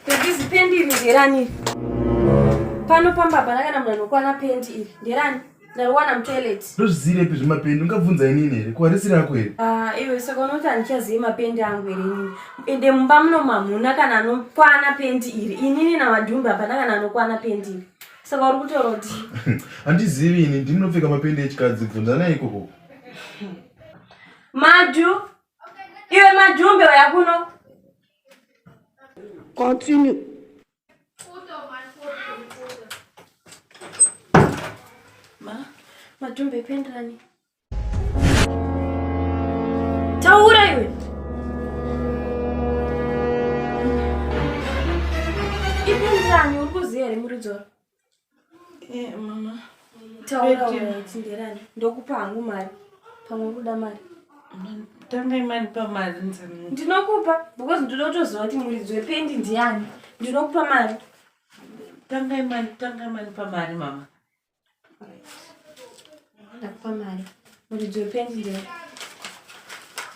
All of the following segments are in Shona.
Bebisi pendi iri nderani? Pano pamba hapana kana munhu anokwana pendi iri. Nderani? Ndariwana mutoilet. Ndozviziire pi zvimapendi? Ungabvunza inini here? Ko harisi rako here? Ah, iwe saka unoti handichazivi mapendi angu here inini? Ende mumba muno mamuna kana anokwana pendi iri. Inini namadhumbi hapana kana anokwana pendi iri. Saka uri kutaura kuti handizivi ini ndinopfeka mapendi echikadzi bvunzanai ikoko. Madhu. Iwe madhumbi waya kuno. Continue. Ma, matumbe pendani. Taura iwe. Ipendani uri kuziya here muridzora? Eh, mama taura tinderani ndokupa hangu mari pamwe kuda mari tangai mari pamari ndinokupa because ndoda kutoziva kuti muridzi wependi ndiani ndinokupa mari tangai mari tangai mari pamari mama ndakupa mari muridzi wependi ndee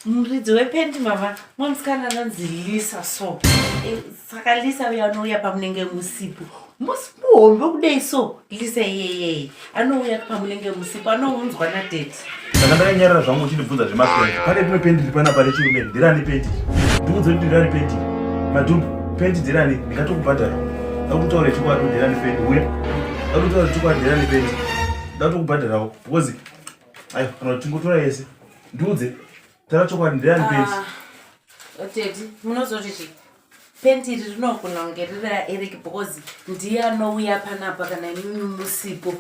muridzi wependi mama mwamusikana anonzi lisa so eh, saka lisa uya anouya pamunenge musipo musi muhombe kudei so lisa iyeyeye anouya pamunenge musipo anounzwa nadeti saka ndakanyarira zvangu uchindibvunza zvemapendi pane rimwe pendi riri panapa rechirume ndirani pendi ndiudze kuti ndirani pendi madhumbu pendi ndirani ndingatokubhadhara akutaura chikwadhu ndirani pendi uya akutaura chikwadhu ndirani pendi ndatokubhadharawo because ayo kana kuti tingotora yese ndiudze tara chokwadi ndiani penti ah, teti munozoti chii penti iri rinogona kunge riri raeric because ndiye anouya panapa kana imimi musipo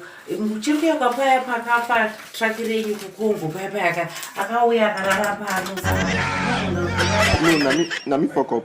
chiri kuya kwapaya pakapa traki renyu kukongo paya paya ka akauya akarara pano nami fokop